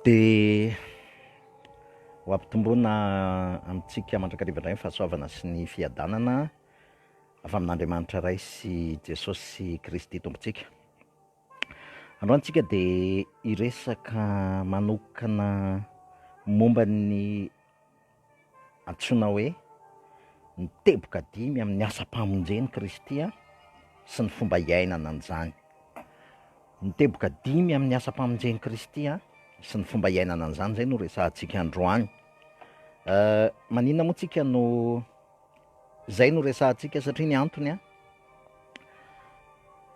Dia ho ampitomboina amintsika mandrakariva indray ny fahasoavana sy ny fiadanana avy amin'Andriamanitra Ray sy Jesosy Kristy Tompontsika. Androany isika dia hiresaka manokana momba ny Antsoina hoe ny teboka dimy amin'ny asam-pamonjen'i Kristy sy ny fomba iainana an'izany. Ny teboka dimy amin'ny asam-pamonjen'i Kristy sy ny fomba iainana an'izany izay no resahantsika androany. Maninona moa tsika no izay no resahantsika satria ny antony an,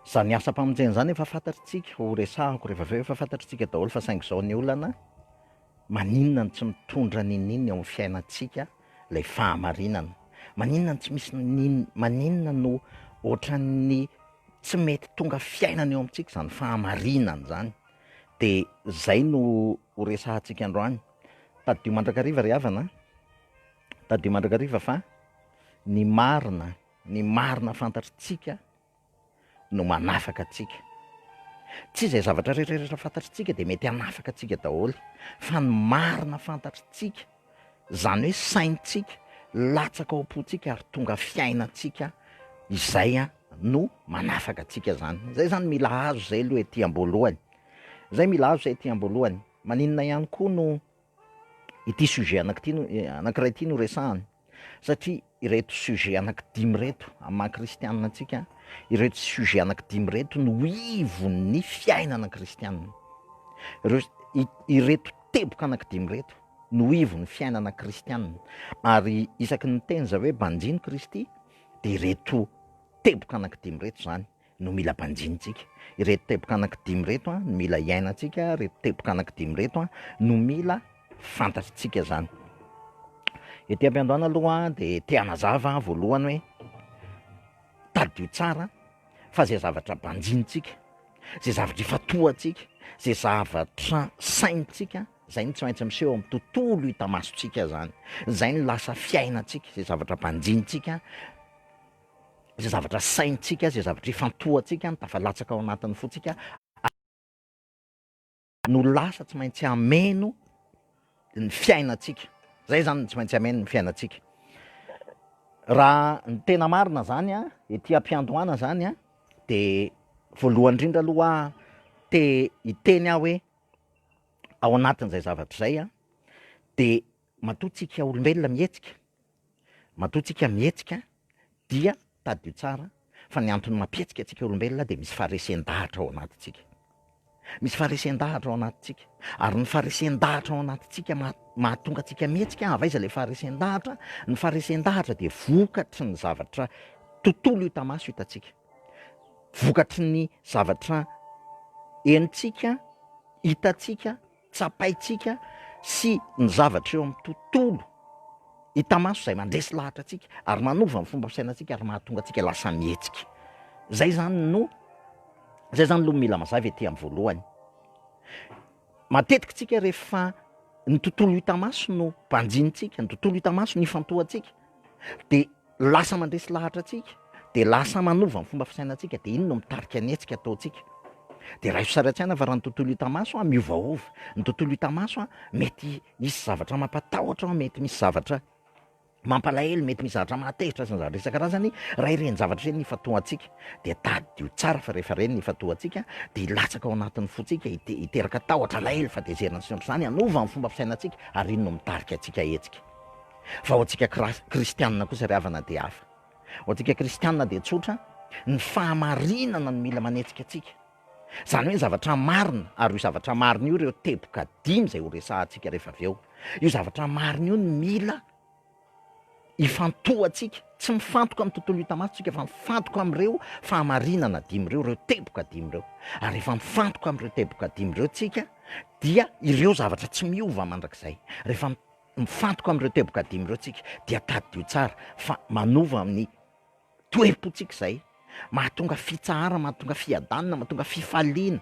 izany asam-pamonjena izany efa fantatritsika, horesahako rehefa avy eo, efa fantatritsika daholo fa saingy izao ny olana, Maninona no tsy mitondra niniana eo amin'ny fiainantsika ilay fahamarinana? Maninona no tsy misy nini, maninona no ohatran'ny tsy mety tonga fiainana eo amintsika izany fahamarinana izany? Dia izay no ho resahantsika androany. Tadidio mandrakariva ry havana an! Tadidio mandrakariva fa ny marina, ny marina fantatritsika, no manafaka antsika. Tsy izay zavatra rehetra fantatritsika dia mety hanafaka antsika daholo fa ny marina fantatritsika, izany hoe saintsika, latsaka ao am-pontsika ary tonga fiainantsika izay no manafaka antsika izany. Izay izany mila azo izay aloha ety am-boalohany. Izay mila azo izay ety am-boalohany. Maninona ihany koa no ity sujet anak'ity no anankiray ity no resahana satria ireto sujet anaky dimy ireto amin'ny maha kristianina antsika ireto sujet anaky dimy ireto no ivon'ny fiainana kristianina ireo ireto teboka anaky dimy ireto no ivon'ny fiainana kristianina ary isaky ny teny za hoe banjino kristy dia ireto teboka anaky dimy ireto zany no mila banjinintsika, ireto teboka anaky dimy ireto no mila iainantsika, ireto teboka anaky dimy ireto no mila fantatritsika zany. Ety am-piandohana aloha dia te hanazava aho voalohany hoe, tadidio tsara fa zay zavatra banjinintsika, zay zavatra ifatohantsika, zay zavatra saintsika, zay no tsy maintsy miseho amin'ny tontolo hita masontsika zany, zay no lasa fiainantsika, zay zavatra banjinintsika, izay zavatra saintsika, izay zavatra ifantohantsika no tafalatsaka ao anatin'ny fontsika ary no lasa tsy maintsy hameno ny fiainantsika, zay zany no tsy maintsy hameno ny fiainantsika. Raha ny tena marina zany a, ety am-piandohana zany a, de voalohany indrindra aloha te hiteny aho hoe ao anatin'izay zavatra izay a, de matoa tsika olombelona mihetsika Matoa tsika mihetsika dia tadidio tsara fa ny antony mampihetsika antsika olombelona dia misy faharesen-dahatra ao anatintsika. Misy faharesen-dahatra ao anatintsika. Ary ny faharesen-dahatra ao anatintsika mahatonga antsika mihetsika, avy aiza ilay faharesen-dahatra? Ny faharesen-dahatra dia vokatry ny zavatra tontolo hita maso hitantsika. Vokatry ny zavatra henontsika, hitantsika. Tsapaintsika sy ny zavatra eo amin'ny tontolo hita maso izay mandresy lahatra antsika ary manova ny fomba fisainantsika ary mahatonga antsika lasa mihetsika. Izay izany no, izay izany aloha no mila mazava ety amin'ny voalohany. Matetika isika rehefa ny tontolo hita maso no banjinintsika, ny tontolo hita maso no ifantohantsika dia Lasa mandresy lahatra antsika, dia lasa manova ny fomba fisainantsika, dia iny no mitarika ny hetsika ataontsika. Dia raiso sary an-tsaina fa raha ny tontolo hita maso miovaova, ny tontolo hita maso mety hisy zavatra mampatahotra ao, mety misy zavatra mampalahelo, mety misy zavatra mahatezitra sy ny zavatra isan-karazany, raha ireny zavatra ireny no ifantohantsika, dia tadidio tsara fa rehefa ireny no ifantohantsika, dia hilatsaka ao anatin'ny fontsika, hiteraka tahotra, alahelo, fahatezerana sy ny ohatr'izany, hanova ny fomba fisainantsika, ary iny no mitarika antsika hetsika. Fa ho antsika kristianina kosa ry havana dia hafa. Ho antsika kristianina dia tsotra ny fahamarinana no mila manetsika antsika. Izany hoe ny zavatra marina, ary io zavatra marina io ireo teboka dimy izay horesahantsika rehefa avy eo. Io zavatra marina io no mila ifantohantsika. Tsy mifantoka amin'ny tontolo hita maso isika fa mifantoka amin'ireo fahamarinana dimy ireo, ireo teboka dimy ireo. Ary rehefa mifantoka amin'ireo teboka dimy ireo isika dia ireo zavatra tsy miova mandrakizay. Rehefa Mifantoka amin'ireo teboka dimy ireo tsika dia tadidio tsara fa manova amin'ny toe-potsika izay mahatonga fitsaharana, mahatonga fiadanana, mahatonga fifaliana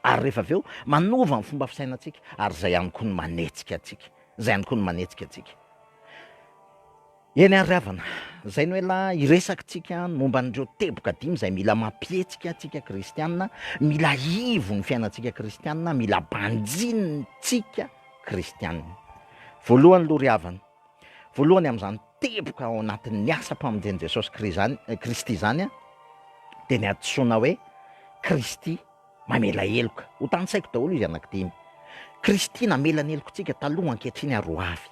ary rehefa avy eo manova ny fomba fisainantsika ary izay ihany koa no manetsika antsika, izay ihany koa no manetsika antsika. Eny ary havana, izay no ela hiresaka tsika ny momba an'ireo teboka dimy izay mila mampihetsika tsika kristiana, mila ivo ny fiainantsika kristiana, mila banjinina tsika kristiana. Voalohany loha ry havana, voalohany amin'izany teboka ao anatin'ny asa mpamonjen'i Jesosy Kristy izany dia ny adisoana hoe Kristy. Mamela heloka. Ho tantsaiko daholo izy anankidimy. Kristy namela ny helokontsika taloha, ankehitriny ary ho avy.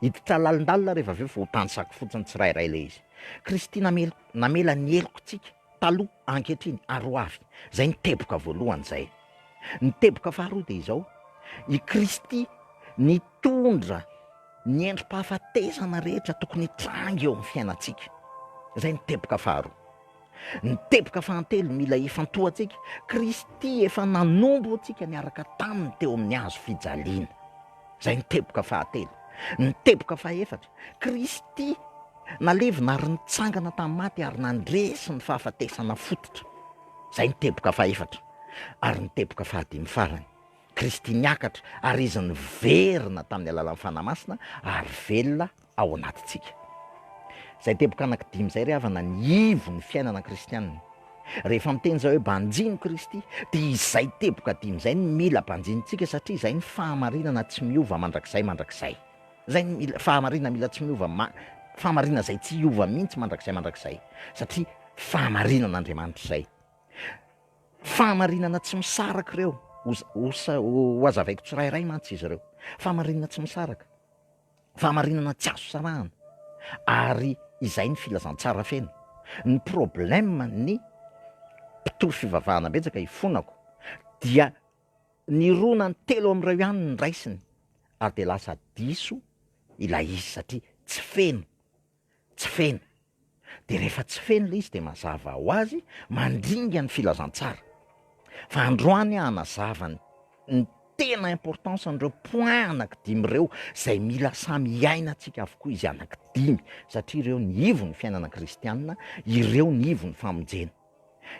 Hiditra lalindalina rehefa avy eo fa ho tantsako fotsiny tsirairay ilay izy. Kristy namel, namela ny helokontsika taloha, ankehitriny ary ho avy. Izay ny teboka voalohany izay. Ny teboka faharoa dia izao, i Kristy nitondra ny endri-pahafatesana rehetra tokony hitranga eo amin'ny fiainantsika. Izay ny teboka faharoa. Ny teboka fahatelo mila hifantohantsika, Kristy efa nanompo antsika niaraka taminy teo amin'ny hazo fijaliana. Izay ny teboka fahatelo. Ny teboka fahefatra, Kristy nalevina ary nitsangana tamin'ny maty ary nandresy ny fahafatesana fototra. Izay ny teboka fahefatra. Ary ny teboka fahadimy farany, Kristy niakatra ary Izy niverina tamin'ny alalan'ny Fanahy Masina ary velona ao anatintsika. Izay teboka anankidimy izay ry havana ny ivon'ny fiainana kristianina. Rehefa miteny izay hoe banjin'i Kristy dia izay teboka dimy izay no mila banjinintsika satria izay ny fahamarinana tsy miova mandrakizay mandrakizay. Izay ny mila, fahamarinana mila tsy miova, ma, fahamarinana izay tsy hiova mihitsy mandrakizay mandrakizay satria fahamarinan'Andriamanitra izay. Fahamarinana tsy misaraka ireo, ho, ho, ho hazavaiko tsirairay mantsy izy ireo. Fahamarinana tsy misaraka. Fahamarinana tsy azo sarahana ary izay ny filazantsara feno. Ny problème ny mpitory fivavahana betsaka ifonako dia nirona ny telo amin'ireo ihany ny raisiny ary dia lasa diso ilay izy satria tsy feno. tsy feno. Dia rehefa tsy feno ilay izy dia mazava ho azy mandringa ny filazantsara. Fa androany aho hanazava ny ny tena importance an'ireo points anankidimy ireo izay mila samy hiainantsika avokoa izy anankidimy satria ireo ny ivon'ny fiainana kristianina, ireo ny ivon'ny famonjena.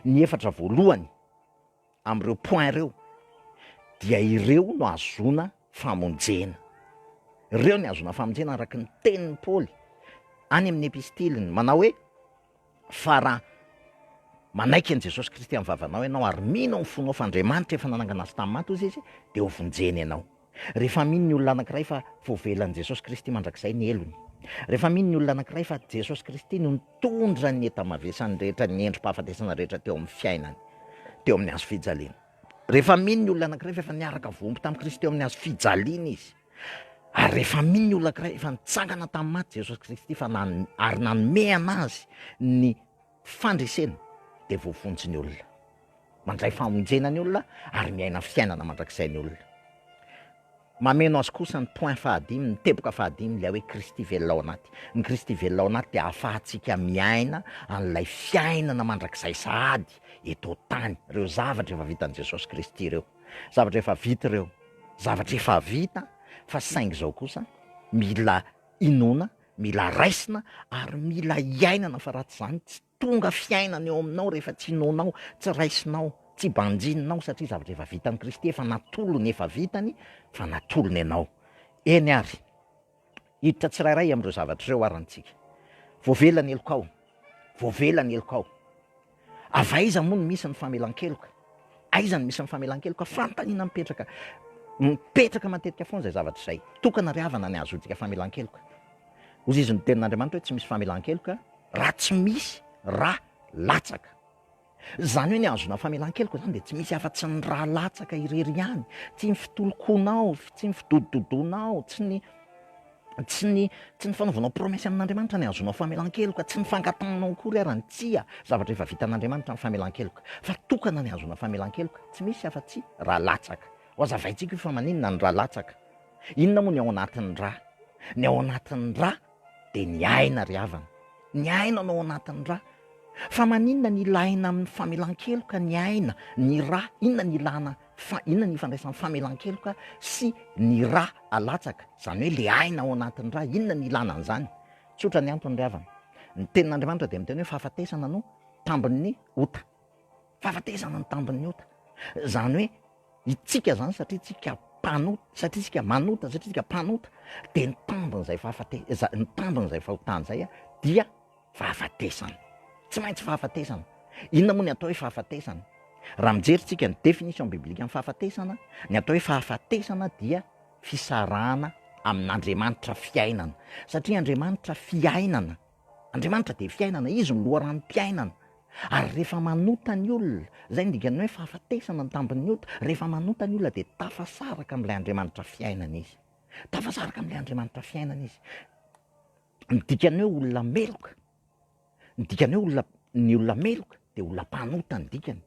Ny efatra voalohany amin'ireo points ireo dia ireo no ahazoana famonjena. Ireo no ahazoana famonjena araka ny tenin'i Paoly any amin'ny epistiliny manao hoe fa raha manaiky an'i Jesosy Kristy amin'ny vavanao ianao ary mino amin'ny fonao fa Andriamanitra efa nanangana azy tamin'ny maty hozy izy dia hovonjena ianao. Rehefa mino ny olona anankiray fa voavelan'i Jesosy Kristy mandrakizay ny helony, rehefa mino ny olona anankiray fa Jesosy Kristy no nitondra ny enta-mavesany rehetra, ny endri-pahafatesana rehetra teo amin'ny fiainany, teo amin'ny hazo fijaliana. Rehefa mino ny olona anankiray fa efa niaraka voaomby tamin'i Kristy teo amin'ny hazo fijaliana izy, ary rehefa mino ny olona anankiray efa nitsangana tamin'ny maty Jesosy Kristy fa nan- ary nanome an'azy ny fandresena dia voavonjy ny olona, mandray famonjena ny olona ary miaina fiainana mandrakizay ny olona. Mameno azy kosa ny point fahadimy, ny teboka fahadimy, ilay hoe Kristy velona ao anaty. Ny Kristy velona ao anaty dia ahafahantsika miaina an'ilay fiainana mandrakizay sahady eto an-tany, ireo zavatra efa vitan'i Jesosy Kristy ireo, zavatra efa vita ireo, zavatra efa vita fa saingy izao kosa mila inoana Mila raisina ary mila iainana fa raha tsy izany tsy tonga fiainana eo aminao rehefa tsy inoanao, tsy raisinao, tsy banjininao satria zavatra efa vitan'i Kristy, efa natolony, efa vitany fa natolony ianao. Eny ary, hiditra tsirairay amin'ireo zavatra ireo ary ny tsika. Voavela ny helokao, voavela ny helokao. Avy aiza moa no misy ny famelan-keloka? Aiza no misy ny famelan-keloka? Fanontaniana mipetraka. Mipetraka matetika foana izay zavatra izay. Tokana ry havana ny hahazoantsika famelan-keloka. Hozizy ny tenin'Andriamanitra hoe tsy misy famelan-keloka raha tsy misy ra latsaka. Izany hoe ny hahazoana famelan-keloka izany dia tsy misy afa-tsy ny ra latsaka irery ihany. Tsy ny fitolonkonao, tsy ny fidodododoanao, tsy ny. Tsy ny tsy ny fanaovanao promesse amin'Andriamanitra no ahazoanao famelan-keloka, tsy ny fangatahanao akory ara ny tsia zavatra efa vitan'Andriamanitra ny famelan-keloka, fa tokana ny ahazoana famelan-keloka, tsy misy afa-tsy ra latsaka. Hohazavaintsika io fa maninona ny ra latsaka. Inona moa ny ao anatin'ny ra? Ny ao anatin'ny ra dia ny aina ry havana. Ny aina no ao anatin'ny ra. Fa maninona ny ilàna amin'ny famelan-keloka ny aina, ny ra? Inona ny ilàna Fa inona ny ifandraisan'ny famelan-keloka sy ny ra alatsaka, izany hoe ilay aina ao anatin'ny ra, inona ny ilana an'izany? Tsotra ny antony ry havana, ny tenin'Andriamanitra dia miteny hoe fahafatesana no tambin'ny ota, fahafatesana no tambin'ny ota, izany hoe itsika izany satria tsika mpanota, satria tsika manota, satria tsika mpanota dia ny tambin'izay fahafate- ny tambin'izay fahotana izay dia. Fahafatesana. Tsy maintsy fahafatesana. Inona moa ny atao hoe fahafatesana? Raha mijery tsika ny définition biblique ny fahafatesana, ny atao hoe fahafatesana dia fisarahana amin'Andriamanitra fiainana. Satria Andriamanitra fiainana. Andriamanitra dia fiainana, Izy no loharanom-piainana. Ary rehefa manota ny olona, izay no dikan'ny hoe fahafatesana ny tambin'ny ota, rehefa manota ny olona dia tafasaraka amin'ilay Andriamanitra fiainana izy. Tafasaraka amin'ilay Andriamanitra fiainana izy. Ny dikan'ny hoe olona meloka, ny dikan'ny hoe olona, ny olona meloka dia olona mpanota ny dikany.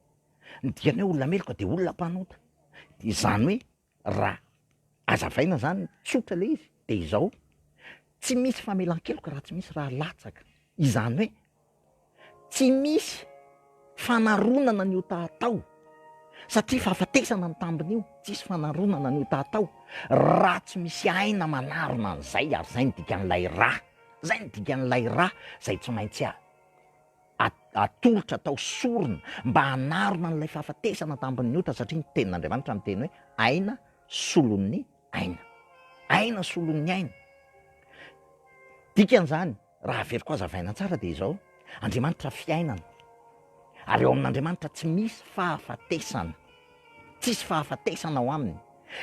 Ny dikan'ny hoe olona meloka dia olona mpanota. Izany hoe raha azavaina izany, tsotra ilay izy dia izao, tsy misy famelan-keloka raha tsy misy raha latsaka. Izany hoe. Tsy misy fanaronana ny ota atao satria fahafatesana ny tambiny io, tsisy fanaronana ny ota atao raha tsy misy aina manarona an'izay ary zay no dikan'ilay ra, zay no dikan'ilay ra zay tsy maintsy a atolotra atao sorona mba hanarona an'ilay fahafatesana tambin'ny ota satria ny tenin'Andriamanitra miteny hoe aina solon'ny aina, aina solon'ny aina, dikan'izany. Raha haveriko hazavaina tsara dia izao, Andriamanitra fiainana, ary ao amin'Andriamanitra tsy misy fahafatesana, tsisy fahafatesana ao aminy.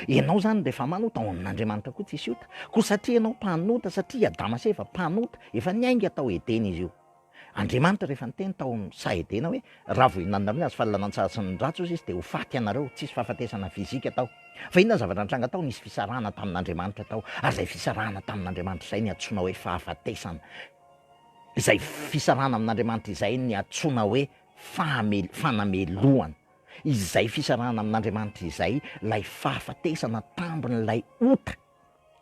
Ianao zany rehefa manota, ao amin'Andriamanitra koa tsisy ota, koa satria ianao mpanota, satria i Adama sy Eva mpanota, efa niainga tao Edena izy io. Andriamanitra rehefa niteny tao amin'ny saha Edena hoe, Raha vao ihinananareo ny hazo fahalalantsara sy ny ratsy, hoy Izy, dia ho faty ianareo. Tsy hisy fahafatesana fizika tao. Fa inona ny zavatra nitranga tao? Nisy fisarahana tamin'Andriamanitra tao. Ary izay fisarahana tamin'Andriamanitra izay no iantsoana hoe fahafatesana. Izay fisarahana amin'Andriamanitra izay no iantsoana hoe fahamel-, fanamelohana. Izay fisarahana amin'Andriamanitra izay ilay fahafatesana tambin'ilay ota.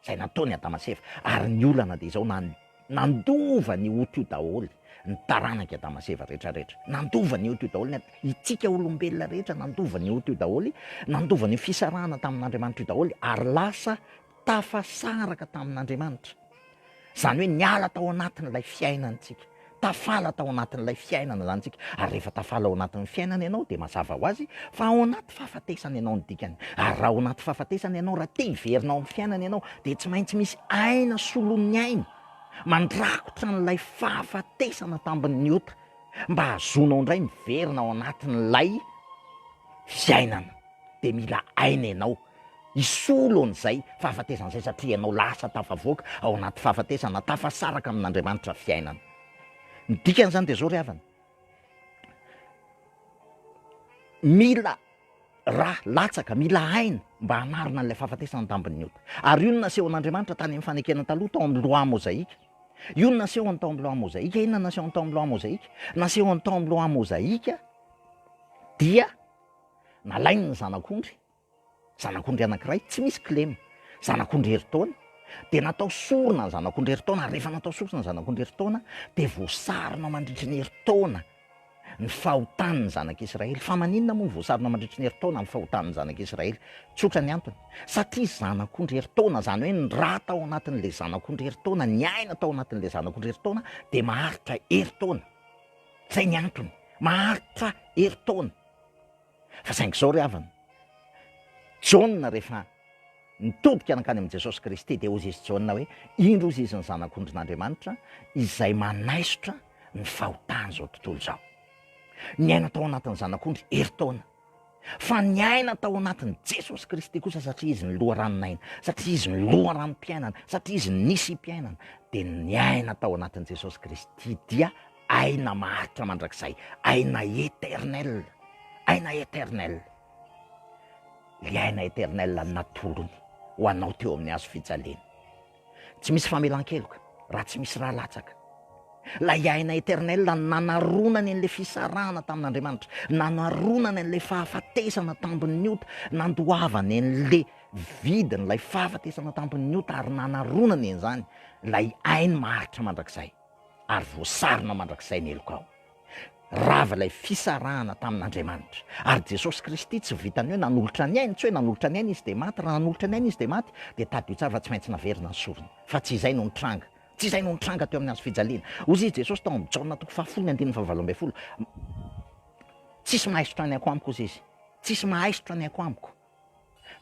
Izay nataony Adama sy Eva. Ary ny olana dia izao, nan, nandova ny ota io daholo ny taranak'i Adama sy Eva rehetra, rehetra. Nandova ny ota io daholo ny at, itsika olombelona rehetra, nandova ny ota io daholo, nandova ny fisarahana tamin'Andriamanitra io daholo, ary lasa tafasaraka tamin'Andriamanitra. Izany hoe niala tao anatin'ilay fiainantsika, tafala tao anatin'ilay fiainana izany isika. Ary rehefa tafala ao anatin'ny fiainana ianao dia mazava ho azy fa ao anaty fahafatesana ianao ny dikany. Ary raha ao anaty fahafatesana ianao, raha te hiverina ao amin'ny fiainana ianao, dia tsy maintsy misy aina solon'ny aina mandrakotra an'ilay fahafatesana tambin'ny ota mba hahazoanao indray miverina ao anatin'ilay fiainana. Dia mila aina ianao. Hisolo an'izay fahafatesana izay satria ianao lasa tafavoaka ao anaty fahafatesana, tafasaraka amin'Andriamanitra fiainana. Ny dikan'izany dia izao ry havana, mila ra latsaka, mila aina mba hanarina an'ilay fahafatesana an-dambon'ny ota. Ary io no nasehon'Andriamanitra tany amin'ny fanekena taloha tao amin'ny Loi Mozaika. Io no nasehony tao amin'ny Loi Mozaika. Inona no nasehony tao amin'ny Loi Mozaika? Nasehony tao amin'ny Loi Mozaika dia nalainy ny zanak'ondry Zanak'ondry anankiray tsy misy kilema. Zanak'ondry herintaona. Dia natao sorona ny zanak'ondry herintaona, ary rehefa natao sorona ny zanak'ondry herintaona, dia voasarona mandritry ny herintaona ny fahotan'ny zanak'Israely. Fa maninona moa no voasarona mandritry ny herintaona ny fahotan'ny zanak'Israely? Tsotra ny antony. Satria zanak'ondry herintaona, izany hoe ny ra tao anatin'ilay zanak'ondry herintaona, ny aina tao anatin'ilay zanak'ondry herintaona, dia maharitra herintaona. Izay ny antony. Maharitra herintaona. Fa saingy izao ry havana, Jaona rehefa nitodika nankany amin'i Jesosy Kristy dia hoy izy Jaona hoe, indro hozy izy ny Zanak'ondrin'Andriamanitra izay manaisotra ny fahotan'izao tontolo izao. Niaina tao anatin'ny Zanak'ondry herintaona. Fa niaina tao anatin'i Jesosy Kristy kosa satria izy ny loharanon'aina, satria izy ny loharanom-piainana, satria izy ny nisy mpiainana, dia niaina tao anatin'i Jesosy Kristy dia Aina maharitra mandrakizay, aina eternel, aina eternel. Ilay aina eternel natolony ho anao teo amin'ny hazo fijaliana. Tsy misy famelan-keloka raha tsy misy raha latsaka. Ilay aina eternel nanaronany an'ilay fisarahana tamin'Andriamanitra, nanaronany an'ilay fahafatesana tambin'ny ota, nandoavany an'ilay vidin'ilay fahafatesana tambin'ny ota ary nanaronany an'izany ilay ainy maharitra mandrakizay. ary voasarona mandrakizay ny helokao. Rava ilay fisarahana tamin'Andriamanitra. Ary Jesosy Kristy tsy vitan'ny hoe nanolotra ny ainy, tsy hoe nanolotra ny ainy Izy dia maty, raha nanolotra ny ainy Izy dia maty, dia tadidio tsara fa tsy maintsy naverina ny sorona. Fa tsy izay no nitranga. Tsy izay no nitranga teo amin'ny Hazo fijaliana. Hoy izy Jesosy tao amin'ny Jaona toko fahafolo ny andininy fahavalo ambin'ny folo, Tsisy mahaisotra ny aiko amiko, hoy izy. Tsisy mahaisotra ny aiko amiko.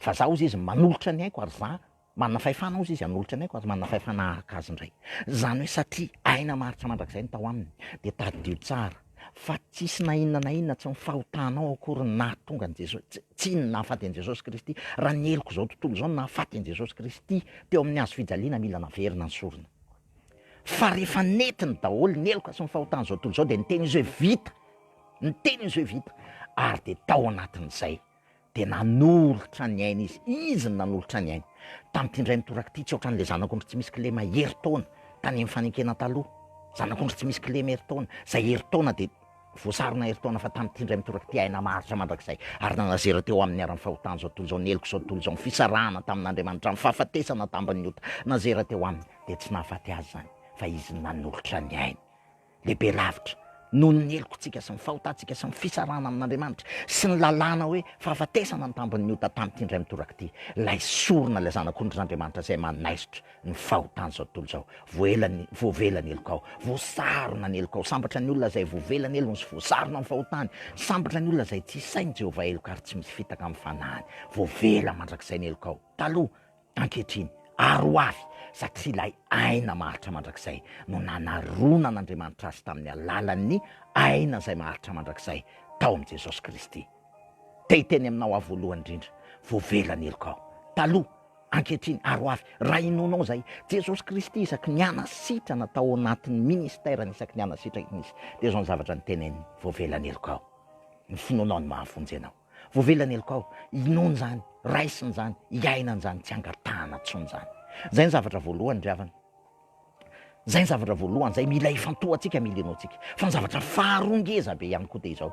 Fa za, hoy izy, manolotra ny aiko ary za Manana fahefana ozy izy hanolotra ny aiko ary manana fahefana hahaka azy indray. Izany hoe satria aina maharitra mandrakizay no tao aminy, dia tadidio tsara fa tsy hisy na inona na inona tsy mifahotanao akory ny nahatonga an'i Jesosy, tsy, tsy inona nahafaty an'i Jesosy Kristy, raha ny heloka izao tontolo izao no nahafaty an'i Jesosy Kristy teo amin'ny hazo fijaliana mila naverina ny sorona. Fa rehefa nentiny daholo ny heloka sy ny fahotan'izao tontolo izao dia niteny izy hoe vita, niteny izy hoe vita ary dia tao anatin'izay dia nanolotra ny ainy izy, izy no nanolotra ny ainy, tamin'ity indray mitoraka ity, tsy ohatran'ilay zanak'ondry tsy misy kilema herintaona tany amin'ny fanenkena taloha, zanak'ondry tsy misy kilema herintaona, izay herintaona dia voasarona herintaona, fa tamin'ity indray mitoraka ity, aina maharitra mandrakizay, ary nanazera teo aminy ara-ny fahotana izao tontolo izao, ny heloka izao tontolo izao, ny fisarahana tamin'Andriamanitra, ny fahafatesana tamban'ny ota, nazera teo aminy, dia tsy nahafaty azy izany, fa izy no nanolotra ny ainy. Lehibe lavitra noho ny helokontsika sy ny fahotantsika sy ny fisarahana amin'Andriamanitra sy ny lalàna hoe fahafatesana ny tambin'ny ota tamin'ity indray mitoraka ity ilay sorona, ilay Zanak'ondry z'Andriamanitra izay manaisotra ny fahotan'izao tontolo izao. Voaela ny, voavela ny helokao. Voasarona ny helokao. Sambatra ny olona izay voavela ny helony sy voasarona ny fahotany. Sambatra ny olona izay tsy hisain'i Jehovah heloka ary tsy misy fitaka amin'ny fanahiny. Voavela mandrakizay ny helokao. Taloha, Ankehitriny, ary ho avy, satria ilay aina maharitra mandrakizay no nanaronan'Andriamanitra azy tamin'ny alalan'ny aina izay maharitra mandrakizay tao amin'i Jesosy Kristy. Te hiteny aminao aho voalohany indrindra, voavela ny heloka ao. Taloha, ankehitriny, ary ho avy, raha hinoanao izay, Jesosy Kristy isaky ny hanasitrana tao anatin'ny ministerany isaky ny hanasitrany Izy, dia izao ny zavatra noteneniny, voavela ny heloka ao. Ny finoanao no mahavonjy anao. Voavela ny helokao, inoany zany, raisiny zany, iainany zany, tsy angatahana tsony zany. Zay ny zavatra voalohany ry havana. Zay ny zavatra voalohany, zay mila ifantohantsika, mila inoantsika. Fa ny zavatra faharoa ngeza be ihany koa dia izao,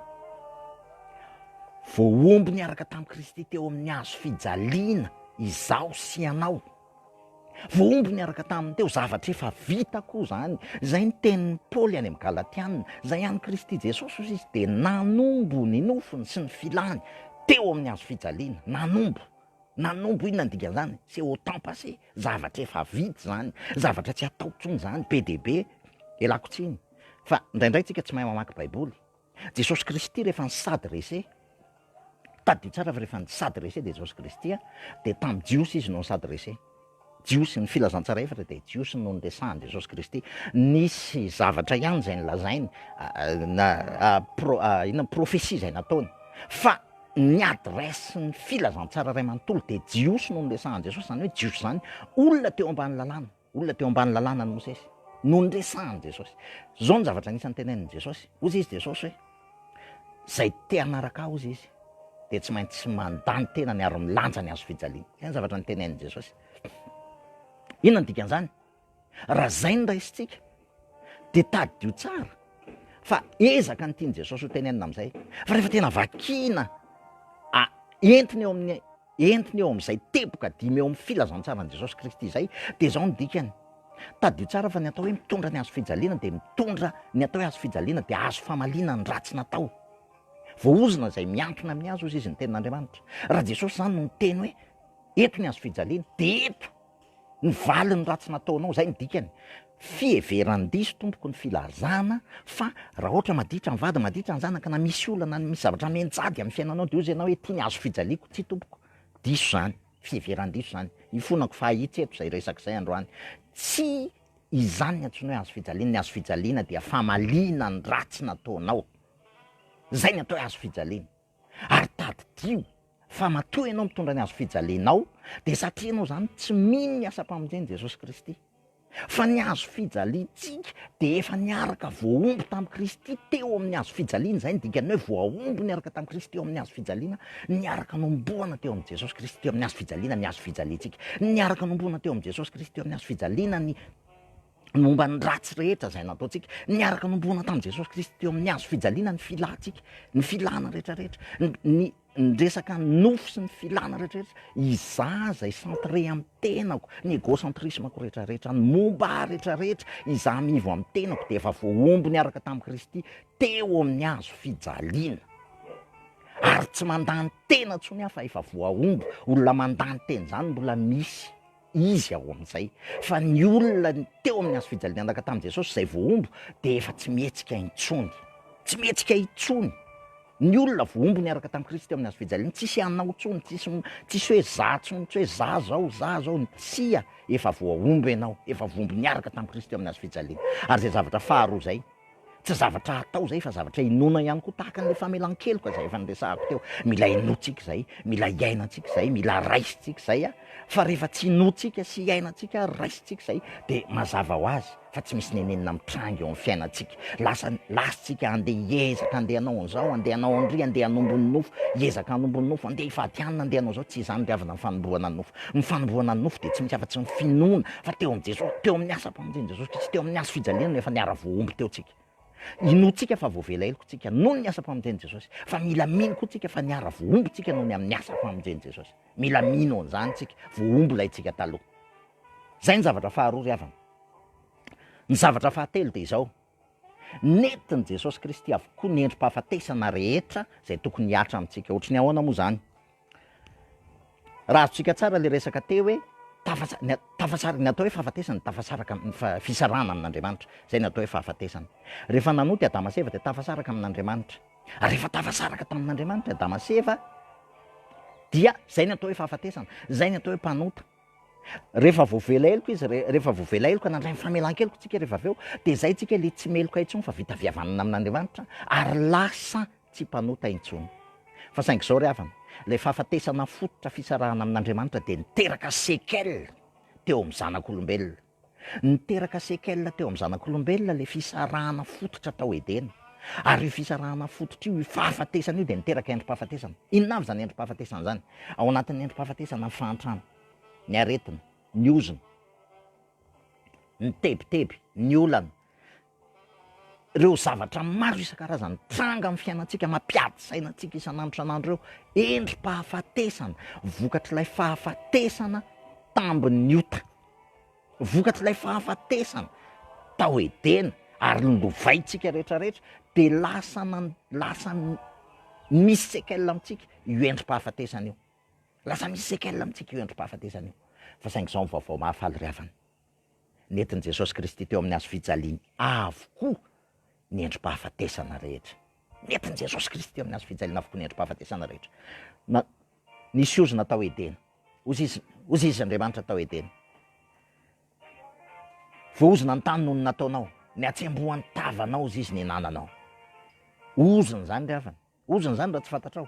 voahombo niaraka tamin'i Kristy teo amin'ny hazo fijaliana izaho sy ianao. Voahombo niaraka taminy teo zavatra efa vita koa izany. Izay ny tenin'i Paoly any amin'ny Galatiana. Izay an'i Kristy Jesosy, hoy izy, dia nanombo ny nofony sy ny filany teo amin'ny hazo fijaliana. Nanombo. Nanombo, inona no dikan'izany? C'est au temps passé. Zavatra efa vita izany. Zavatra tsy atao intsony izany. Be dia be. Ialako tsiny. Fa indraindray tsika tsy mahay mamaky Baiboly. Jesosy Kristy rehefa ny sad rese, tadidio tsara fa rehefa ny sad rese dia Jesosy Kristy a, dia tamin'ny Jiosy Izy no ny sad rese. Jiosy, ny filazantsara efatra dia Jiosy no niresahan'i Jesosy Kristy. Nisy zavatra ihany izay nilazainy, na pro, inona profesia izay nataony. Fa ny adresse ny filazantsara iray manontolo dia Jiosy no niresahan'i Jesosy, izany hoe Jiosy izany olona teo ambany lalàna. Olona teo ambany lalàna an'i Mosesy no niresahan'i Jesosy. Izao no zavatra anisan'ny tenenin'i Jesosy, hoy izy Jesosy hoe, Izay te hanaraka ahy, hoy izy, dia tsy maintsy mandà ny tenany ary milanja ny hazo fijaliany. Izay ny zavatra nitenenin'i Jesosy. Inona no dikan'izany? Raha izay no raisintsika, dia tadidio tsara fa ezaka ny tian'i Jesosy ho tenenina amin'izay. Fa rehefa tena vakiana, ah, entina eo amin'ny entina eo amin'izay teboka dimy eo amin'ny filazantsaran'i Jesosy Kristy izay, dia izao ny dikany. Tadidio tsara fa ny atao hoe mitondra ny hazo fijaliana dia mitondra ny atao hoe hazo fijaliana dia hazo famaliana ny ratsy natao. Voahozona izay miantona amin'ny hazo izy izy ny tenin'Andriamanitra. Raha Jesosy izany no niteny hoe eto ny hazo fijaliana, dia eto Ny valin'ny ratsy nataonao, izay no dikany. Fiheveran-diso tompoko ny filazana fa raha ohatra maditra ny vady, maditra ny zanaka, na misy olana, na misy zavatra mianjady amin'ny fiainanao dia hoy ianao hoe ity ny hazo fijaliako, tsia tompoko, diso izany, fiheveran-diso izany. Ifonako fa ahitsy eto izay resaka izay androany. Tsy izany ny antsoina hoe hazo fijaliana, ny hazo fijaliana dia famaliana ny ratsy nataonao. Izay ny atao hoe hazo fijaliana. Ary tadidio fa matoa ianao mitondra ny hazofijalianao dia satria ianao izany tsy mino ny asam-pamonjen'i Jesosy Kristy. Fa ny hazofijaliantsika dia efa niaraka voahombo tamin'i Kristy teo amin'ny hazofijaliana, izay ny dikan'ny hoe voahombo niaraka tamin'i Kristy teo amin'ny hazofijaliana, niaraka nohomboana teo amin'i Jesosy Kristy teo amin'ny hazofijaliana ny hazofijaliantsika, niaraka nohomboana teo amin'i Jesosy Kristy teo amin'ny hazofijaliana ny momba ny ratsy rehetra izay nataontsika, niaraka nomboana tamin'i Jesosy Kristy teo amin'ny hazo fijaliana ny filantsika, ny filana rehetra rehetra, ny ny resaka nofo sy ny filana rehetra rehetra, izaho izay centré amin'ny tenako, ny égocentrisme-ko rehetra rehetra, ny momba ahy rehetra rehetra, izaho mivo amin'ny tenako dia efa voahombo niaraka tamin'i Kristy teo amin'ny hazo fijaliana, ary tsy mandany tena intsony aho fa efa voahombo, olona mandany tena izany mbola misy. Izy ao amin'izay fa ny olona teo amin'ny hazo fijalianaka tamin'i Jesosy izay voahombo dia efa tsy mihetsika intsony. Tsy mihetsika intsony. Ny olona voahombo niaraka tamin'i Kristy teo amin'ny hazo fijaliana, tsisy hanao intsony, tsisy tsisy hoe za intsony, tsy hoe za zao, za zao, tsia, efa voahombo ianao, efa voahombo niaraka tamin'i Kristy teo amin'ny hazo fijaliana. Ary izay zavatra faharoa izay, Tsy zavatra atao izay fa zavatra inoana ihany koa tahaka an'ilay famelan-keloka izay efa niresahako teo. Mila inoantsika izay, mila iainantsika izay, mila raisintsika izay fa rehefa tsy inoantsika sy iainantsika ary raisintsika izay dia mazava ho azy fa tsy misy nenenina mitranga eo amin'ny fiainantsika. Lasa lasintsika andeha hiezaka, andeha hanao an'izao, andeha hanao an'irỳ, andeha hanombo ny nofo, hiezaka hanombo ny nofo, andeha hivady hanina, andeha hanao izao, tsy izany ry havana ny fanomboana ny nofo. Ny fanombohana ny nofo dia tsy misy afa-tsy ny finoana fa teo amin'i Jesosy, teo amin'ny asam-pamonjen'i Jesosy Kristy, teo amin'ny hazo fijaliana no efa niara-voahombo teo tsika. Inoantsika fa voavela heloka tsika noho ny asam-pamonjen'i Jesosy, fa mila mino koa tsika fa niara-voahombo tsika noho ny amin'ny asam-pamonjen'i Jesosy. Mila mino an'izany tsika, voahombo ilay tsika taloha. Izay ny zavatra faharoa ry havana. Ny zavatra fahatelo dia izao, Nentin'i Jesosy Kristy avokoa ny endri-pahafatesana rehetra izay tokony hihatra amintsika. Ohatry ny ahoana moa izany? Raha azontsika tsara ilay resaka teo hoe tafasa- ny a- tafasar- ny atao hoe fahafatesana, tafasaraka amin'ny fa- fisarahana amin'Andriamanitra. Izay ny atao hoe fahafatesana. Rehefa nanota i Adama sy Eva dia tafasaraka amin'Andriamanitra. Ary rehefa tafasaraka tamin'Andriamanitra i Adama sy Eva dia izay ny atao hoe fahafatesana, izay ny atao hoe mpanota. Rehefa voavela heloka izy, rehefa voavela heloka, nandray ny famelan-keloka isika rehefa avy eo, dia izay isika ilay tsy meloka intsony fa vita avy havanana amin'Andriamanitra ary lasa tsy mpanota intsony. Fa saingy izao ry havana, ilay fahafatesana fototra fisarahana amin'Andriamanitra dia niteraka séquelles teo amin'ny zanak'olombelona. Niteraka séquelles teo amin'ny zanak'olombelona ilay fisarahana fototra tao Edena. Ary io fisarahana fototra io, io fahafatesana io dia niteraka endri-pahafatesana. Inona avy izany endri-pahafatesana izany? Ao anatin'ny endri-pahafatesana ny fahantrana, ny aretina, ny ozona, ny tebiteby, ny olana, Ireo zavatra maro isan-karazany mitranga amin'ny fiainantsika, mampiady saina antsika isan'andro isan'andro ireo, endri-pahafatesana, vokatr'ilay fahafatesana tambin'ny ota, vokatr'ilay fahafatesana tao Edena, ary lovaintsika rehetrarehetra, dia lasa nan- lasa misy séquelles amintsika io endri-pahafatesana io. Lasa misy séquelles amintsika io endri-pahafatesana io. Fa saingy izao ny vaovao mahafaly ry havana. nentin'i Jesosy Kristy teo amin'ny hazo fijaliany avokoa ny endri-pahafatesana rehetra. Nentin'i Jesosy Kristy teo amin'ny hazo fijaliana avokoa ny endri-pahafatesana rehetra. Na, nisy ozona tao Edena. Oziz, oziz Andriamanitra tao Edena. Voahozona ny tany noho ny nataonao. Ny hatsembohan'ny tavanao oziz ny hinananao. Ozona izany ry havana. Ozona izany raha tsy fantatrao.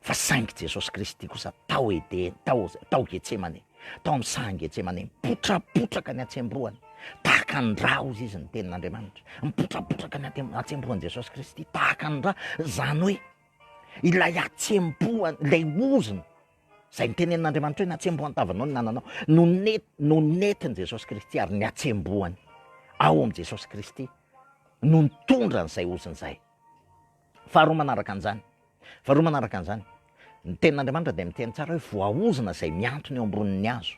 Fa saingy Jesosy Kristy kosa tao Edena, tao, tao Getsemane, tao amin'ny sahan'i Getsemane, mipotrapotraka ny hatsembohany, tahaka ny rà hozy izy ny tenin'Andriamanitra. Mipotrapotraka ny hatem- hatsembohan'i Jesosy Kristy, tahaka ny rà. Izany hoe, ilay hatsembohany, ilay ozona, izay nitenenin'Andriamanitra hoe ny hatsembohan'ny tavanao ny nananao, no net- no nentin'i Jesosy Kristy ary ny hatsembohany ao amin'i Jesosy Kristy no nitondra an'izay ozona izay. Faharoa manaraka an'izany, faharoa manaraka an'izany, ny tenin'Andriamanitra dia miteny tsara hoe voaozona izay mihantona eo ambonin'ny hazo.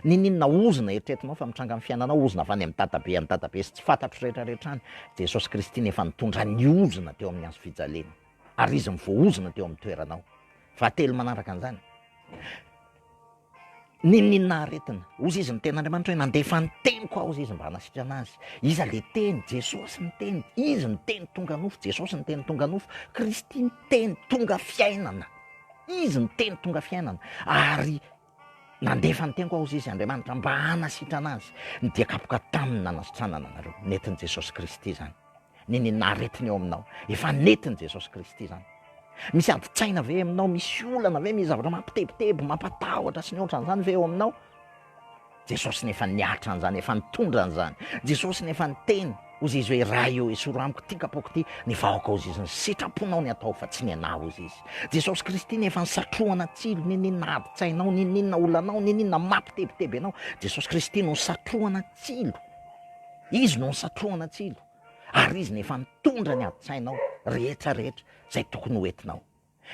Niniana ozona eritreretinao fa mitranga amin'ny fiainanao ozona avy any amin'ny dadabe any dadabe sy tsy fantatro rehetrarehetra any. Jesosy Kristy no efa nitondra ny ozona teo amin'ny hazo fijaliana ary izy no voaozona teo amin'ny toeranao. Fahatelo manaraka an'izany, N'inon'inona aretina. Hozy izy, Ny Tenin'Andriamanitra hoe, Nandefa ny Teniko aho, hozy izy, mba hanasitrana azy. Iza le Teny? Jesosy ny Teny. Izy ny Teny tonga nofo. Jesosy ny Teny tonga nofo. Kristy ny Teny tonga fiainana. Izy ny Teny tonga fiainana. Ary Nandefa ny Teniko aho, hozy izy, Andriamanitra, mba hanasitrana azy. Ny dia kapoka taminy nanasitranana anareo. Netin'i Jesosy Kristy izany. ny nenina aretina eo aminao. Efa nentin'i Jesosy Kristy izany. Misy adin-tsaina ve aminao? Misy olana ve? Misy zavatra mampitebiteby, mampatahotra sy ny ohatran'izany ve eo aminao? Jesosy no efa niatra an'izany, efa nitondra an'izany. Jesosy no efa niteny, hozy izy hoe Ray eo esoro amiko ity kapoko ity, ny vahoaka hozy izy ny sitraponao ny atao fa tsy ny anah hozy izy. Jesosy Kristy no efa nisatrohana tsilo ny ninona adin-tsainao, ny ninona olanao, ny ninona mampitebiteby anao. Jesosy Kristy no nisatrohana tsilo. Izy no nisatrohana tsilo ary Izy no efa nitondra ny adin-tsainao rehetra rehetra izay tokony ho entinao.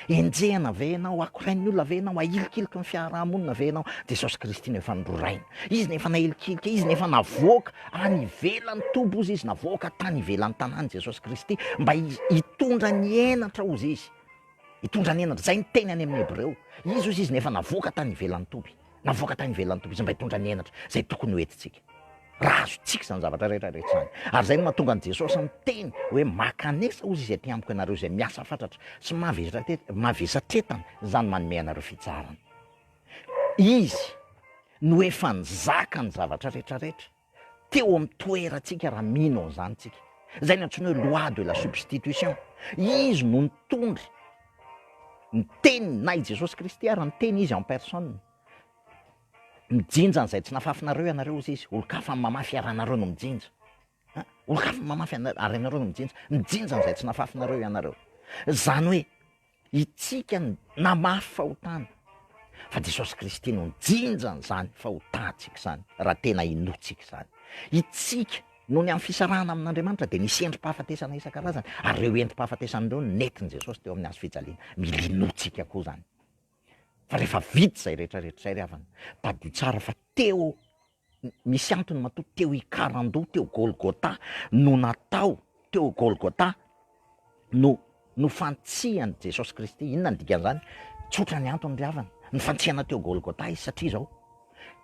Enjehina ve ianao, akorain'ny olona ve ianao, ahilikiliky ny fiaraha-monina ve ianao, Jesosy Kristy no efa nororaina. Izy no efa nahilikilika, Izy no efa navoaka any ivelan'ny toby ozy Izy, navoaka tany ivelan'ny tanàna Jesosy Kristy mba hitondra ny henatra ozy Izy, hitondra ny henatra, izay ny teny any amin'ny Hebreo. Izy ozy Izy no efa navoaka tany ivelan'ny toby. navoaka tany ivelan'ny toby izay mba hitondra ny henatra izay tokony ho entintsika. Raha azontsika izany zavatra rehetra rehetra izany, ary izay no mahatonga an'i Jesosy miteny hoe makanesa ozy izay te-amiko ianareo izay miasa fatratra sy mavesatretana, izany manome anareo fitsaharana. Izy no efa nizaka ny zavatra rehetra rehetra. Teo amin'ny toerantsika raha mino an'izany tsika. Izay no antsoina hoe loi de la substitution. Izy no nitondra ny teniny na i Jesosy Kristy ary ny teny izy en personne. Mijinja an'izay tsy nafafinareo ianareo hozy izy, olon-kafa mamafy ary ianareo no mijinja. An, olon-kafa mamafy ary ianareo no mijinja. Mijinja an'izay tsy nafafinareo ianareo. Izany hoe. Isika no namafy fahotana, fa Jesosy Kristy no nijinja an'izany fahotantsika izany, raha tena inoantsika izany. Isika, noho ny amin'ny fisarahana amin'Andriamanitra, dia nisy endri-pahafatesana isan-karazany, ary ireo endri-pahafatesana ireo no nentin'i Jesosy teo amin'ny hazo fijaliana. Mila inoantsika koa izany. Fa rehefa vita izay rehetra rehetra izay ry havana, tadidio tsara fa teo, Misy antony matoa teo Ikarandoha teo Golgotha no natao teo Golgotha no no fantsihan'i Jesosy Kristy. Inona ny dikan'izany? Tsotra ny antony ry havana. Ny fantsihana teo Golgotha izy satria izao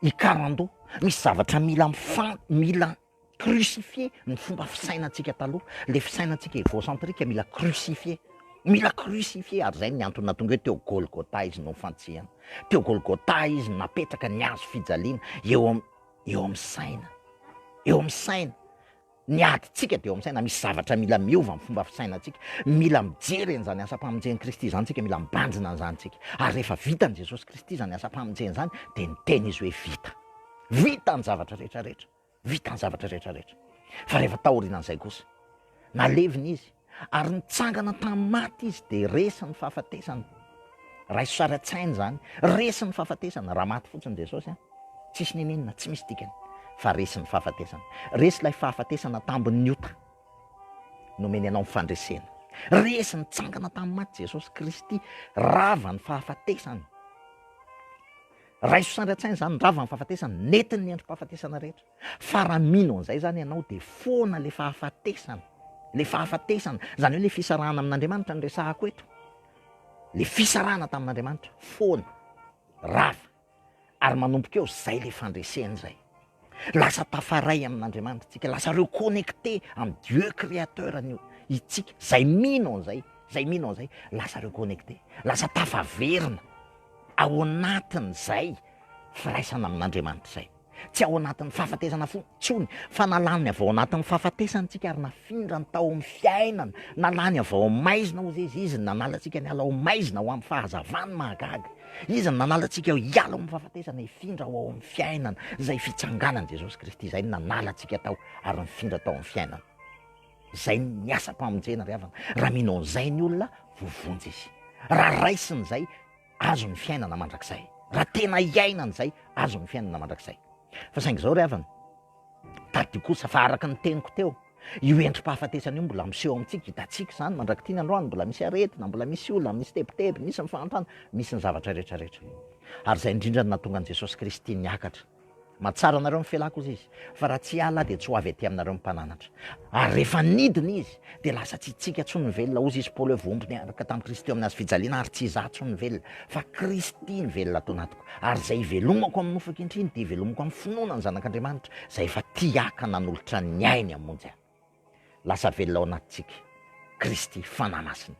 Ikarandoha. Misy zavatra mila mifan mila crucifier ny fomba fisainantsika taloha, le fisainantsika egocentrique mila crucifier, mila crucifier ary zay ny antony nahatonga hoe teo Golgotha izy nofantsihana, teo Golgotha izy napetraka ny hazo fijaliana eo am eo am saina, eo am saina, ny adintsika de eo am saina, misy zavatra mila miova am fomba fisainantsika, mila mijery an'izany asam-pamonjen'i Kristy izany tsika, mila mibanjina an'izany tsika, ary rehefa vitan'i Jesosy Kristy zany asam-pamonjena zany de niteny izy hoe vita, vita ny zavatra rehetra rehetra. Vita ny zavatra rehetra rehetra. Fa rehefa taorianan'izay kosa, nalevina izy, ary nitsangana tamin'ny maty izy, dia resy ny fahafatesana. Raiso sary an-tsaina izany. Resy ny fahafatesana, raha maty fotsiny Jesosy an, tsisy nenenina, tsy misy dikany. Fa resy ny fahafatesana. Resy ilay fahafatesana tambin'ny ota, nomeny anao ny fandresena. Resy nitsangana tamin'ny maty Jesosy Kristy, rava ny fahafatesana. Raiso sandry an-tsaina izany ny ravan'ny fahafatesana, nentin'ny androm-pahafatesana rehetra. Fa raha mino an'izay izany ianao dia foana ilay fahafatesana, ilay fahafatesana, izany hoe ilay fisarahana amin'Andriamanitra no resahako eto. Ilay fisarahana tamin'Andriamanitra, foana, rava, ary manomboka eo izay ilay fandreseny izay. Lasa tafaray amin'Andriamanitra isika, lasa reconnecté amin'ny Dieu créateur anio isika, izay mino an'izay, izay mino an'izay lasa reconnecté, lasa tafaverina ao anatin'izay firaisana amin'Andriamanitra izay. Tsy ao anatin'ny fahafatesana fo tsony, fa nalany avy ao anatin'ny fahafatesana isika ary nafindrany tao amin'ny fiainana, nalany avy ao maizina hozy izy, izy nanala antsika niala ao maizina ho amin'ny fahazavany mahagaga. Izy no nanala antsika hiala ao amin'ny fahafatesana hifindra ho ao amin'ny fiainana, izay fitsanganan'i Jesosy Kristy, izay no nanala antsika tao ary nifindra tao amin'ny fiainana. Izay ny asam-pamonjena ry havana. Raha mino an'izay ny olona, voavonjy izy. Raha raisiny izay, azo ny fiainana mandrakizay. Raha tena iainany izay, azo ny fiainana mandrakizay. Fa saingy izao ry havana, Tadidio kosa fa araka ny teniko teo, io endri-pahafatesana io mbola miseho ao amintsika, hitantsika izany mandrak'ity ny androany, mbola misy aretina, mbola misy olana, misy tebiteby, misy ny fahantrana, misy ny zavatra rehetra rehetra. Ary izay indrindra no nahatonga an'i Jesosy Kristy niakatra. Mahatsara anareo ny fialako, hoy Izy, fa raha tsy hiala Aho dia tsy ho avy aty aminareo ny Mpananatra. Ary rehefa nidina Izy, dia lasa tsy isika intsony ny velona, hozy Izy, Paoly hoe vohompy niaraka tamin'i Kristy teo amin'ny hazo fijaliana, ary tsy izaho intsony ny velona, fa Kristy ny velona ato anatiko. Tompo, ary izay ivelomako amin'ny nofy ankehitriny dia ivelomako amin'ny finoana ny Zanak'Andriamanitra, izay efa tia haka nanolotra ny ainy hamonjy ahy. Lasa velona ao anatintsika Kristy, Fanahy Masina.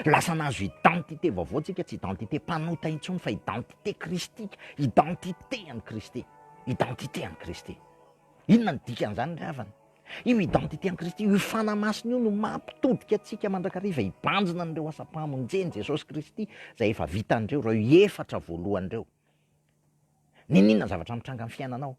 Lasa nahazo identité vaovao tsika, tsy identité mpanota intsony fa identité Kristika, identité an'i Kristy, identité an'i Kristy. Inona ny dikan'izany ry havana? Io identité en Kristy, io Fanahy Masina io no mampitodika antsika mandrakariva hibanjina an'ireo asam-pahamonjen'i Jesosy Kristy izay efa vitan'ireo, ireo efatra voalohany ireo. N'inon'inona zavatra mitranga amin'ny fiainanao,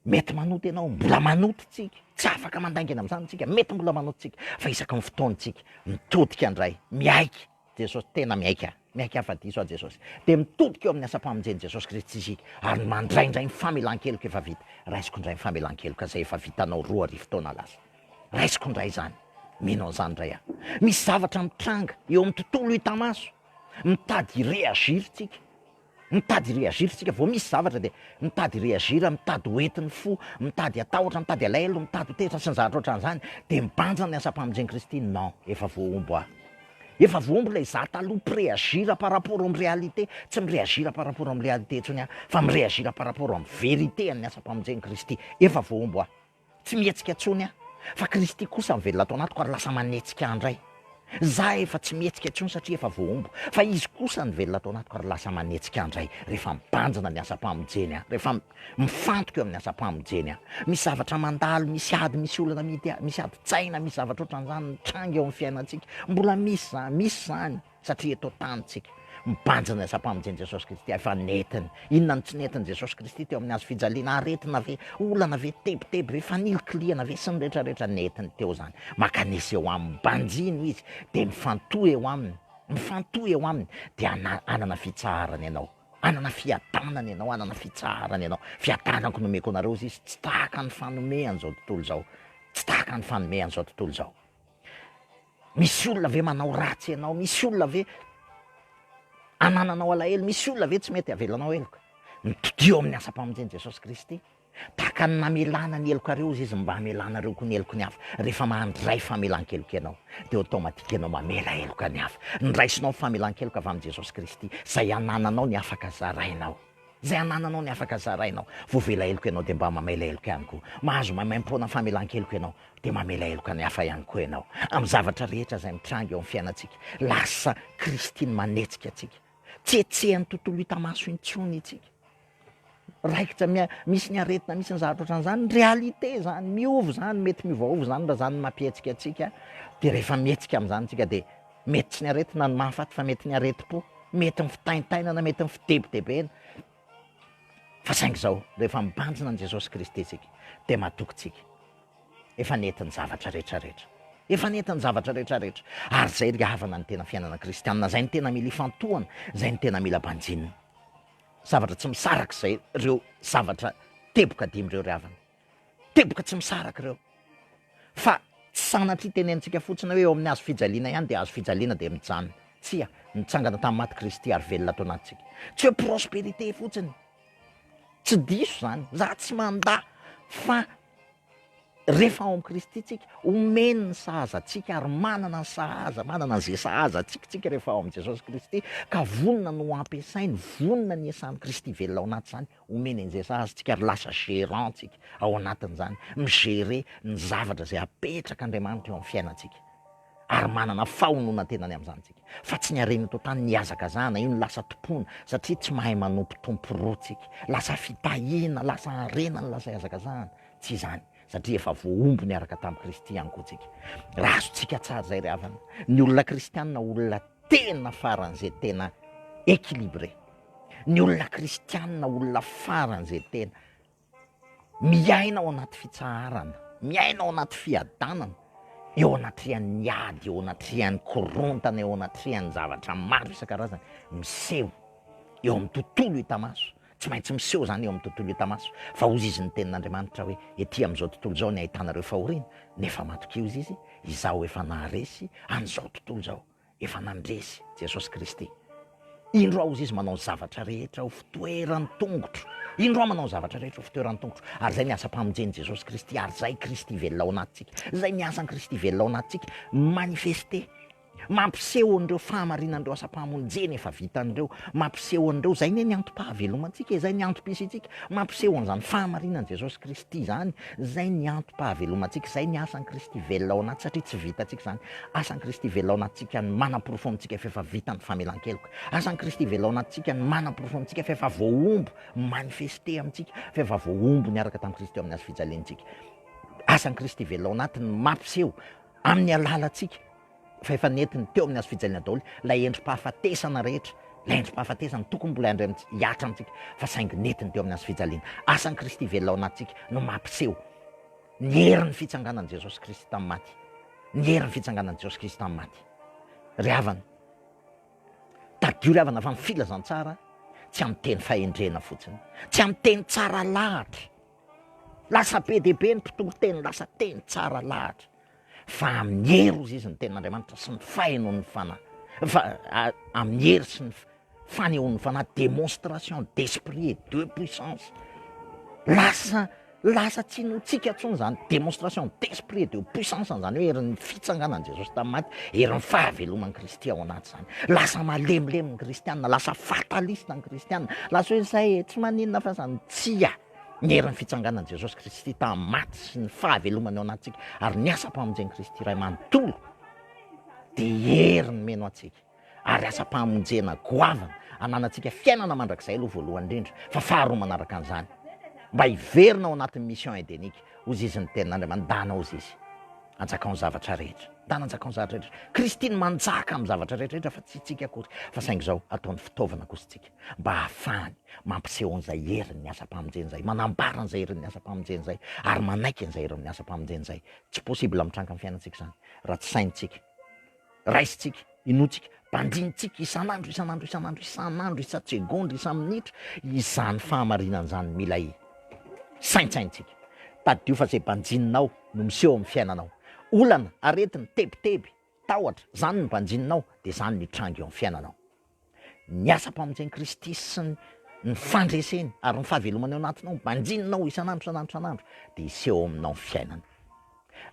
mety manota ianao, mbola manota tsika, tsy afaka mandaingina amin'izany tsika, mety mbola manota tsika, fa isaky ny fotoana tsika, mitodika indray, miaiky, Jesosy tena miaiky ahy. Miaiky ahy fa diso aho Jesosy. Dia mitodika eo amin'ny asam-pamonjen'i Jesosy Kristy isika ary mandray indray ny famelan-keloka efa vita. Raisiko indray ny famelan-keloka izay efa vitanao roa arivo taona lasa. Raisiko indray izany. Mino an'izany indray aho. Misy zavatra mitranga eo amin'ny tontolo hita maso. Mitady hi-reagir tsika. Mitady hi-reagir tsika, vao misy zavatra dia mitady hi-reagir, mitady ho entin'ny fo, mitady hatahotra, mitady alahelo, mitady ho tezitra sy ny zavatra ohatran'izany, dia mibanja ny asam-pamonjen'i Kristy, non, efa voahombo aho. Efa voahombo ilay izaho taloha, mpy-reagir par rapport amin'ny réalité, tsy mi-reagir par rapport amin'ny réalité intsony aho, fa mi-reagir par rapport amin'ny vérité an'ny asam-pamonjen'i Kristy, efa voahombo aho. Tsy mihetsika intsony aho, fa Kristy kosa mivelona ato anatiko ary lasa manetsika ahy indray. Za efa tsy mihetsika intsony satria efa voahombo, fa Izy kosa nivelona ato anatiko ary lasa manetsika ahy indray. Rehefa mibanjina ny asam-pamonjeny aho, rehefa mifantoka eo amin'ny asam-pamonjeny aho, misy zavatra mandalo, misy ady, misy olana amidy ahy, misy adin-tsaina, misy zavatra ohatran'izany mitranga eo amin'ny fiainantsika. Mbola misy izany, misy izany. Satria eto an-tanintsika, mibanjina ny asam-pamonjen'i Jesosy Kristy, hay fa nentiny. Inona no tsy nentin'i Jesosy Kristy teo amin'ny hazo fijaliana? Aretina ve? Olana ve? Tebiteby ve? Fanilikilihana ve? Sy ny rehetrarehetra nentiny teo izany. Mankanesa eo aminy, banjino izy, dia mifantoha eo aminy, mifantoha eo aminy, dia hana- hanana fitsaharana ianao. Hanana fiadanana ianao, hanana fitsaharana ianao. Fiadanako no omeko anareo, hoy izy, tsy tahaka ny fanomean'izao tontolo izao, tsy tahaka ny fanomean'izao tontolo izao. Misy olona ve manao ratsy anao? Misy olona ve anananao alahelo? Misy olona ve tsy mety avelanao heloka? Mitodiho amin'ny asam-pamonjen'i Jesosy Kristy. Tahaka ny namelana ny helokareo Izy, Izy mba hamelanareo koa ny heloky ny hafa. Rehefa mandray famelan-keloka ianao, dia automatique ianao mamela heloka ny hafa. Ndraisinao ny famelan-keloka avy amin'i Jesosy Kristy, izay anananao ny afaka zarainao. Izay anananao ny afaka zarainao. Voavela heloka ianao dia mba mamela heloka ihany koa. Mahazo maimaimpoana famelan-keloka ianao dia mamela heloka ny hafa ihany koa ianao. Amin'ny zavatra rehetra izay mitranga eo amin'ny fiainantsika, lasa Kristy ny manetsika antsika. Tsy hetsehan'ny tontolo hita maso intsony isika. Raikitra, misy ny aretina, misy ny zavatra ohatran'izany. Réalité izany, miova izany, mety miovaova izany raha izany no mampihetsika antsika. Dia rehefa mihetsika amin'izany isika dia Mety tsy ny aretina no mahafaty fa mety ny aretim-po, mety ny fitaintainana, mety ny fidebodebena. Fa saingy izao, rehefa mibanjina an'i Jesosy Kristy isika, dia matoky isika. Efa nety ny zavatra rehetra rehetra. Efa nety ny zavatra rehetra rehetra. Ary izay ry havana ny tena fiainana kristianina, izay ny tena mila ifantohana, izay ny tena mila banjinina. Zavatra tsy misarak'izay ireo zavatra teboka dimy ireo ry havana. Teboka tsy misaraka ireo. Fa tsy sanatria tenenintsika fotsiny hoe eo amin'ny hazo fijaliana ihany dia hazo fijaliana dia mijanona. Tsia, nitsangana tamin'ny maty Kristy ary velona ato anatintsika. Tsy hoe prospérité fotsiny. Tsy diso izany. Izaho tsy mandà fa rehefa ao amin'i Kristy tsika, omeny ny sahaza antsika ary manana ny sahaza, manana an'izay sahaza antsika tsika rehefa ao amin'i Jesosy Kristy ka vonona ny ho ampiasainy, vonona ny hiasan'i Kristy velona ao anaty izany. Omeny anjera azy tsika ary lasa gérant tsika ao anatin'izany, mi-gérer ny zavatra izay apetrak'Andriamanitra eo amin'ny fiainantsika ary manana fahononan-tena ny amin'izany tsika. Fa tsy ny harena eto an-tany no ihazakazahana, io no lasa tompoina satria tsy mahay manompo tompo roa tsika. Lasa fitahiana, lasa harena no lasa ihazakazahana. Tsy izany, satria efa voahombo niaraka tamin'i Kristy ihany koa tsika. Raha azontsika tsara izay ry havana, ny olona kristianina olona tena faran'izay tena équilibré. Ny olona kristianina, olona faran'izay tena miaina ao anaty fitsaharana, miaina ao anaty fiadanana, eo anatrehan'ny ady, eo anatrehan'ny korontana, eo anatrehan'ny zavatra maro isan-karazany miseho eo amin'ny tontolo hita maso. Tsy maintsy miseho izany eo amin'ny tontolo hita maso, fa hozy izy ny tenin'Andriamanitra hoe, ety amin'izao tontolo izao ny ahitanareo fahoriana, nefa matokia hozy izy, izaho efa naharesy an'izao tontolo izao. Efa nandresy Jesosy Kristy. Indro aho, hoy Izy, manao ny zavatra rehetra ho fitoeran-tongotro. Indro aho manao ny zavatra rehetra ho fitoeran-tongotro. Ary izay ny asam-pamonjen'i Jesosy Kristy, ary izay Kristy velona ao anatintsika. Izay ny asan'i Kristy velona ao anatintsika, mi-manifester, mampiseho an'ireo fahamarinan'ireo asam-pamonjena efa vitany ireo, mampiseho an'ireo, izay anie ny antom-pahavelomantsika e, izay ny antom-pisiantsika, mampiseho an'izany fahamarinan'i Jesosy Kristy izany Izay ny antom-pahavelomantsika, izay ny asan'i Kristy velona ao anaty, satria tsy vitantsika izany. Asan'i Kristy velona ao anatintsika ny manaporofo amintsika fa efa vita ny famelan-keloka. Asan'i Kristy velona ao anatintsika ny manaporofo amintsika fa efa voahombo, mi-manifester amintsika, fa efa voahombo niaraka tamin'i Kristy ao amin'ny hazofijaliantsika. Asan'i Kristy velona ao anaty ny mampiseho amin'ny alalantsika fa efa nentiny teo amin'ny hazo fijaliana daholo ilay endri-pahafatesana rehetra, ilay endri-pahafatesana tokony mbola handray amintsika, hihatra amintsika, fa saingy nentiny teo amin'ny hazo fijaliana. Asan'i Kristy velona ao anatintsika no mampiseho ny herin'ny fitsanganan'i Jesosy Kristy tamin'ny maty, ny herin'ny fitsanganan'i Jesosy Kristy tamin'ny maty. Ry havana, tadidio ry havana fa ny filazantsara tsy amin'ny teny fahendrena fotsiny, tsy amin'ny teny tsara lahatra. Lasa be dia be ny mpitoriteny lasa teny tsara lahatra. fa amin'ny hery hozy izy ny tenin'Andriamanitra sy ny fahenon'ny fanahy, fa amin'ny hery sy ny fanehon'ny fanahy, démonstration d'esprit et de puissance, lasa lasa tsy notsika intsony izany démonstration d'esprit et de puissance izany hoe herin'ny fitsanganan'i Jesosy tamin'ny maty, herin'ny fahaveloman'i Kristy ao anaty izany, lasa malemilemy ny kristiana, lasa fataliste ny kristiana, lasa hoe izay e, tsy maninona fa izany, tsia. ny herin'ny fitsanganan'i Jesosy Kristy tamin'ny maty sy ny fahavelomany ao anatintsika ary ny asam-pamonjen'i Kristy iray manontolo dia heriny meno antsika ary asam-pamonjena goavana ananantsika fiainana mandrakizay aloha voalohany indrindra fa faharoa manaraka an'izany mba hiverina ao anatin'ny mission edenika ho zizin'ny tenin'Andriamanitra dana ho zizy anjakao ny zavatra rehetra dana anjakao ny zavatra rehetra Kristy ny manjaka amin'ny zavatra rehetra rehetra fa tsy tsika akory fa saingy izao ataony fitaovana kosa tsika mba hahafahany mampiseho an'izay herin'ny asam-pamonjena izay, manambara an'izay herin'ny asam-pamonjena izay, ary manaiky an'izay herin'ny asam-pamonjena izay. Tsy possible mitranga amin'ny fiainantsika izany, raha tsy saintsika, raisintsika, inoantsika, banjinintsika isan'andro, isan'andro, isan'andro, isan'andro, isan-tsegondra, isan-minitra, izany fahamarinana izany, mila saintsaintsika. Tadidio fa izay banjininao no miseho amin'ny fiainanao. Olana, aretina, tebiteby, tahotra, izany no banjininao, dia izany mitranga eo amin'ny fiainanao. Ny asam-pamonjen'i Kristy sy ny ny fandreseny ary ny fahavelomany ao anatinao, banjininao isan'andro, isan'andro, isan'andro, dia hiseho ao aminao ny fiainana.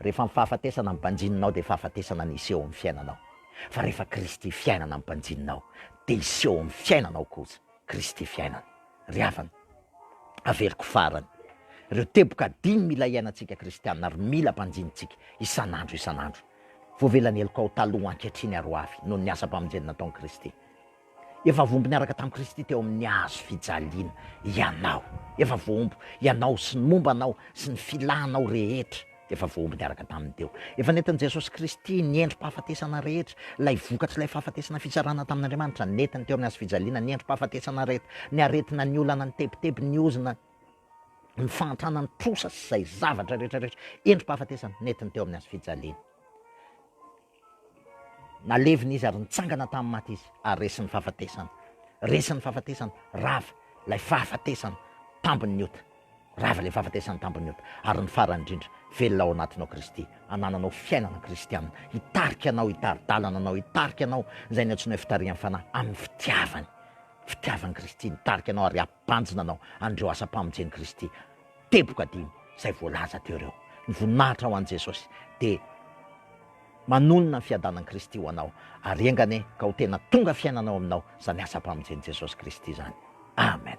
Rehefa ny fahafatesana no banjininao, dia fahafatesana no hiseho amin'ny fiainanao. Fa rehefa Kristy fiainana no banjininao, dia hiseho amin'ny fiainanao kosa Kristy fiainana. Ry havana, averiko farany, ireo teboka dimy mila iainantsika kristiana ary mila banjinintsika isan'andro, isan'andro. voavelan'ny helokao taloha ankehitriny ary ho avy, noho ny asam-pamonjena nataon'i Kristy. Efa voaombo niaraka tamin'i Kristy teo amin'ny hazo fijaliana ianao. Efa voaombo, ianao sy ny momba anao sy ny filànao rehetra, efa voaombo niaraka taminy teo. Efa nentin'i Jesosy Kristy ny endri-pahafatesana rehetra, ilay vokatr'ilay fahafatesana fitsarana tamin'Andriamanitra, nentiny teo amin'ny hazo fijaliana ny endri-pahafatesana rehetra, ny aretina, ny olana, ny tebiteby, ny ozona, ny fahantrana ny trosa sy izay zavatra rehetrarehetra endri-pahafatesana nentiny teo amin'ny hazo fijaliana. Nalevina izy ary nitsangana tamin'ny maty izy ary resin'ny fahafatesana. Resin'ny fahafatesana, rava ilay fahafatesana tambin'ny ota. Rava ilay fahafatesana tambin'ny ota. Ary ny farany indrindra, velona ao anatinao Kristy, anananao fiainana kristianina, hitarika anao, hitari-dalana anao, hitarika anao izay ny antsoina hoe fitarihan'ny fanahy amin'ny fitiavany. Fitiavan'i Kristy nitarika anao ary Tanjona anao an'ireo asam-pamonjen'i Kristy teboka dimy izay voalaza teo ireo. Ny voninahitra ho an'i Jesosy dia manonona ny fiadanan'i Kristy ho anao, ary enganie ka ho tena tonga fiainana ao aminao izany asam-pamonjen'i Jesosy Kristy izany. Amen.